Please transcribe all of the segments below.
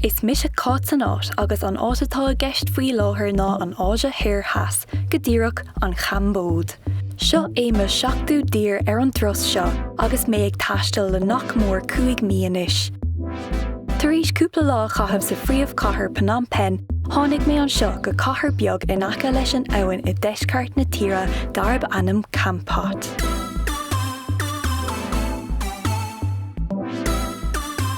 Is mise Cáit san áit agus an áit atá i gceist faoi láthair ná an Áise Thoir Theas, go díreach, an Chambóid. Seo é mo sheachtú tír ar an dturas seo agus mé ag taisteal le nach mór cúig mhí anois. Tar éis cúpla lá a chaitheamh sa phríomhchathair Phnom Penh, tháinig mé anseo go cathair beag in aice leis an abhainn i deisceart na tíre darb ainm Kampot.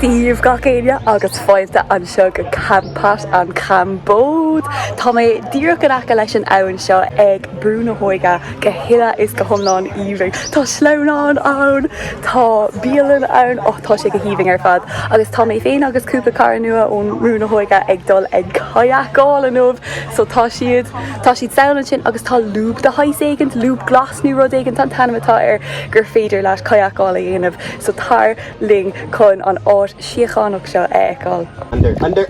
Dia dhaoibh gach éinne agus fáilte anseo go Kampot, An Chambóid. Tá mé díreach in aice leis an abhainn seo ag Brú na hÓige, go huile is go hiomlán aoibhinn. Tá sleamhnán ann, tá bialann ann, oh tá sé go haoibhinn ar fad agus tá mé féin agus cúpla cara nua ón mBrú na hÓige ag dul ag kayakáil inniu so tá siad tá siad ann ansin agus tá lúb de shaghas éigint, lúb glas nó rud éigint an t-ainm atá air gur féidir leat kayakáil a dhéanamh. So tar linn chun an áit síochánach seo a fheiceáil. Under, under.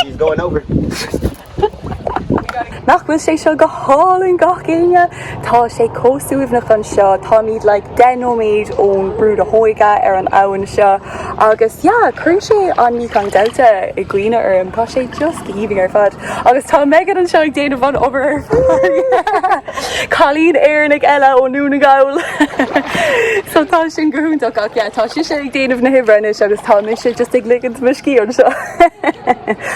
She's going over. Nach bhfuil sé seo go hálainn gach éinne? Tá sé chomh suaimhneach anseo, táimid like deich nóiméad ón Brú na hÓige ar an abhainn seo agus yeah, cuireann sé an Mekong Delta i gcuimhne orm, tá sé just go haoibhinn ar fad agus tá Megan anseo ag déanamh an obair ar fad. Cailín Éireannach eile ó Dhún na Gall. So tá sí go hiontach ach yeah tá sise ag déanamh na hoibre anois agus tá mise just ag ligint mo scíth anseo.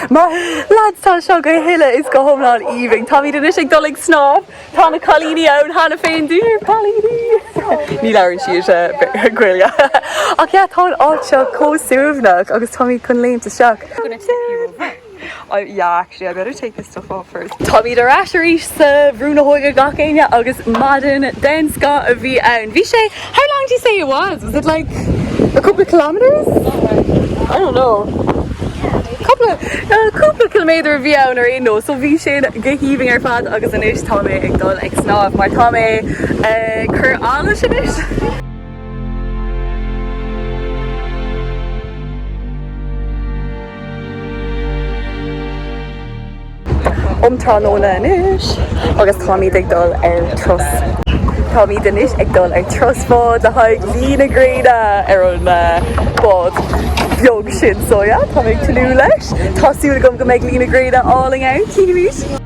Maith thú! Lads tá seo go huile is go hiomlán aoibhinn. Táimid anois ag dul ag snámh. Tá na cailíní ann cheana féin dia dhaoibh a chailíní! Ní labhraíonn siad Gaeilge ach yeah tá an áit seo chomh suaimhneach agus táimid chun léimt isteach. Táimid ar ais arís sa Bhrú na hÓige gach éinne agus maidin den scoth a bhí ann. Bhí sé, how long do you say it was? Was it like a couple of kilometres? I don't know. Cúpla, cúpla ciliméadar a bhí ann ar aon nós. So bhí sé go haoibhinn ar fad agus anois tá mé ag dul ag snámh mar tá mé ag cur allais anois. um tráthnóna anois agus táimid ag dul ar turas. Táimid anois ag dul ar turas báid le haghaidh luí na gréine ar an bád beag sin so yeah táim ag tnúth leis. Tá súil agam go mbeidh luí na gréine álainn ann, chímis.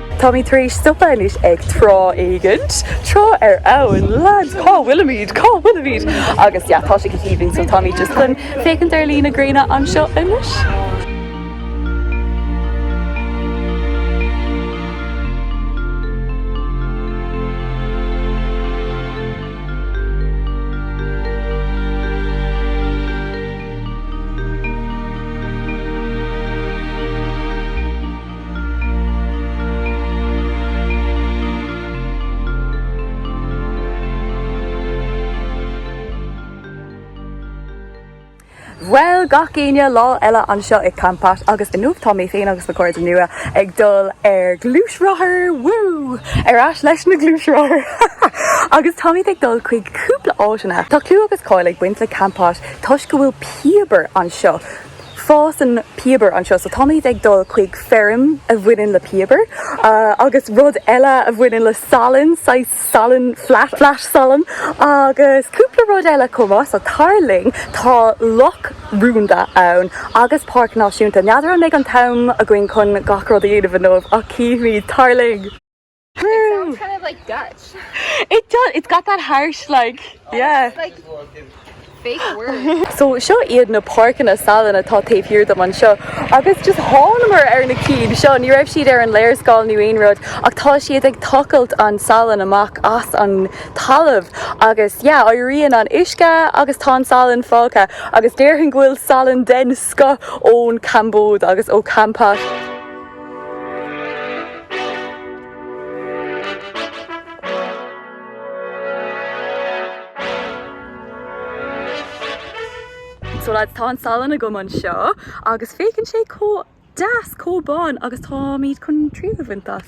Táimid tar éis stopadh anois ag trá éigint. Trá ar abhainn. Lads, cá bhfuilimid? Cá bhfuilimid? Agus yeah, tá sé go haoibhinn, so táimid just chun féachaint ar luí na gréine anseo anois. Bhuel, gach éinne, lá eile anseo i Kampot agus inniu tá mé féin agus na cairde nua ag dul ar gluaisrothar, woo! Ar ais leis na gluaisrothar. agus táimid ag dul chuig cúpla áiteanna. Tá clú agus cáil ag baint le Kampot toisc go bhfuil piobar anseo. Fásann piobar anseo so táimid ag dul chuig feirm a bhaineann le piobar agus rud eile a bhaineann le salann, saghas salann flat, flat salann agus cúpla rud eile chomh maith so tar linn. Tá loch rúnda ann agus páirc náisiúnta. N'fheadar an mbeidh an t-am againn chun gach rud a dhéanamh inniu ach chífimid. Tar linn! So seo iad na páirceanna salann atá taobh thiar dom anseo agus just thánamar ar na cinn seo, ní raibh siad ar an léarscáil nó aon rud ach tá siad ag tochailt an salann amach as an talamh agus yeah éiríonn an uisce agus tá an salann fágtha agus déarfainn go bhfuil salann den scoth ón gCambóid agus ó Kampot. So lads, tá an salann agam anseo agus féachann sé chomh deas, chomh bán agus táimid chun triail a bhaint as.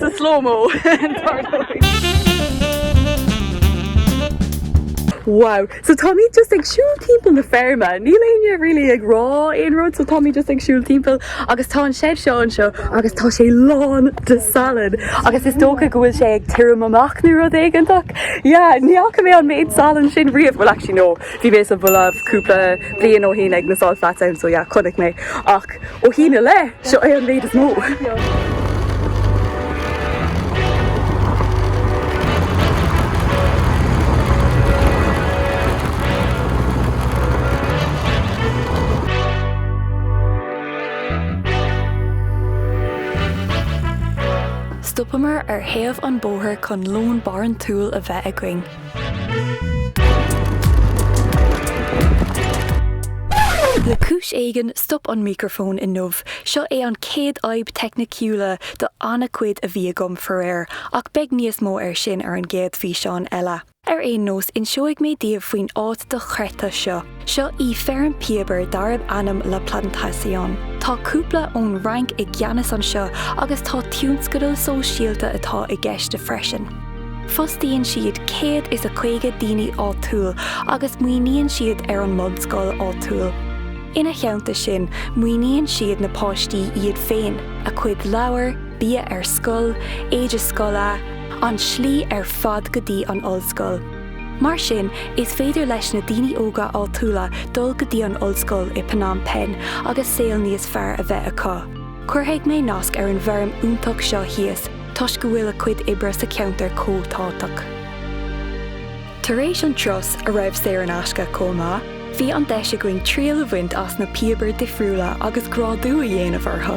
sa slow-mo Wow! So táimid just ag siúl timpeall na feirme, níl éinne really ag rá aon rud so táimid just ag siúl timpeall agus tá an shed seo anseo agus tá sé lán de salann agus is dócha go bhfuil sé ag tirim amach nó rud éigeantach. Yeah, ní fhaca mé an méid salann sin riamh, well actually no. Bhí mé sa Bholaiv cúpla bliain ó shin ag na Salt Flats ann so yeah chonaic mé ach ó shin i leith, seo é an méid is mó! Stopamar ar thaobh an bóthair chun lón barantúil a bheith againn. Le cúis éigin, stop an micreafón inniu. Seo é an chéad fhadhb teicniciúla de an-chuid a bhí agam faraor, ach beidh níos mó ar sin ar an gcéad físeán eile. Ar aon nós, inseoidh mé daoibh faoin áit dochreidte seo. Seo í feirm píobair darb ainm La Plantation. Tá cúpla ón Fhrainc i gceannas anseo agus tá tionscadal sóisialta atá i gceist freisin. Fostaíonn siad céad is a caoga daoine áitiúil agus maoiníonn siad ar an mbunscoil áitiúil. Ina theannta sin, maoiníonn siad na páistí iad féin, a gcuid leabhar, bia ar scoil, éide scoile, an tslí ar fad go dtí an ollscoil. Mar sin, is féidir leis na daoine óga áitiúla dul go dtí an ollscoil i Phnom Penh agus saol níos fearr a bheith acu. Cuirfidh mé nasc ar an bhfeirm iontach seo thíos toisc go bhfuil a gcuid oibre sa cheantar chomh tábhachtach. Tar éis an turas, a raibh saor in aisce chomh maith, bhí an deis againn triail a bhaint as na píobair difriúla agus grádú a dhéanamh orthu.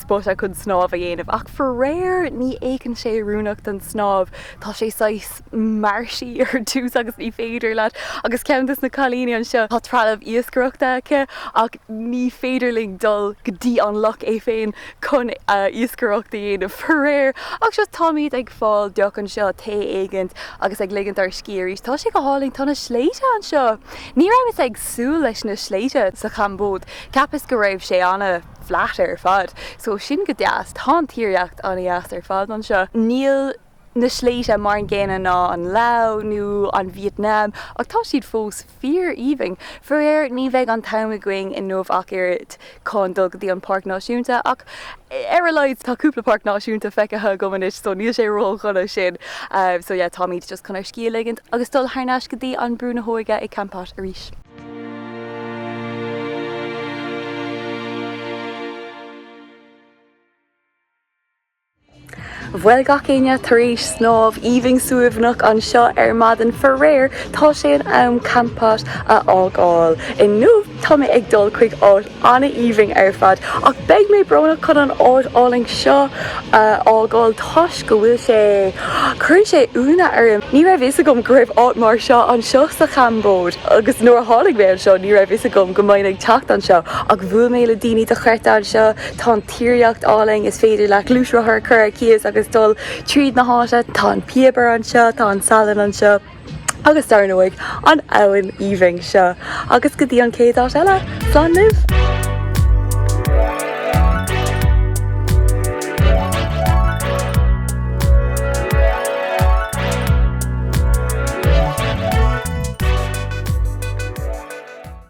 spota chun snámh a dhéanamh ach faraor ní fhéachann sé oiriúnach don snámh, tá sé saghas marshy ar dtús agus ní féidir leat agus ceann dos na cailíní anseo tá trealamh iascaireachta aici ach ní féidir linn dul go dtí an loch é féin chun iascaireacht a dhéanamh faraor ach seo táimid ag fáil deoch anseo, tae éigint agus ag ligint ár scíth arís, tá sé go hálainn, tá na sléibhte anseo, ní rabhas ag súil leis na sléibhte sa Chambóid, cheapas go raibh sé ana. flat ar fad. So sin go deas. Tá an tíreolaíocht an-deas ar fad anseo. Níl na sléibhte mar an gcéanna ná an Lao nó an Vítneam ach tá siad fós fíor-aoibhinn. Faraor, ní bheidh an t-am againn inniu ach oiread chun dul go dtí an Páirc Náisiúnta ach ar a laghad tá cúpla páirc náisiúnta feicthe agam anois so níl sé ródhona san. So yeah, táimid just chun ar scíth a ligint agus dul thar n-ais go dtí an Brú na hÓige i Kampot arís. Bhuel gach éinne, tar éis snámh aoibhinn suaimhneach anseo ar maidin, faraor, tá sé in am Kampot a fhágáil. Inniu tá mé ag dul chuig áit an-aoibhinn ar fad. Ach beidh mé brónach chun an áit álainn seo a fhágáil toisc go bhfuil sé. cuireann sé ionadh orm. Ní raibh fhios agam go raibh áit mar seo anseo sa Chambóid agus nuair a tháinig mé anseo ní raibh fhios agam go mbeinn ag teacht anseo ach bhuail mé le daoine dochreidte anseo. Tá an tíreolaíocht álainn. Is féidir leat gluaisrothar a chur ar cíos agus dul tríd na háite. Tá an piobar anseo. Tá an salann anseo. Agus dar ndóigh, an abhainn aoibhinn seo! Agus go dtí an chéad áit eile, slán libh!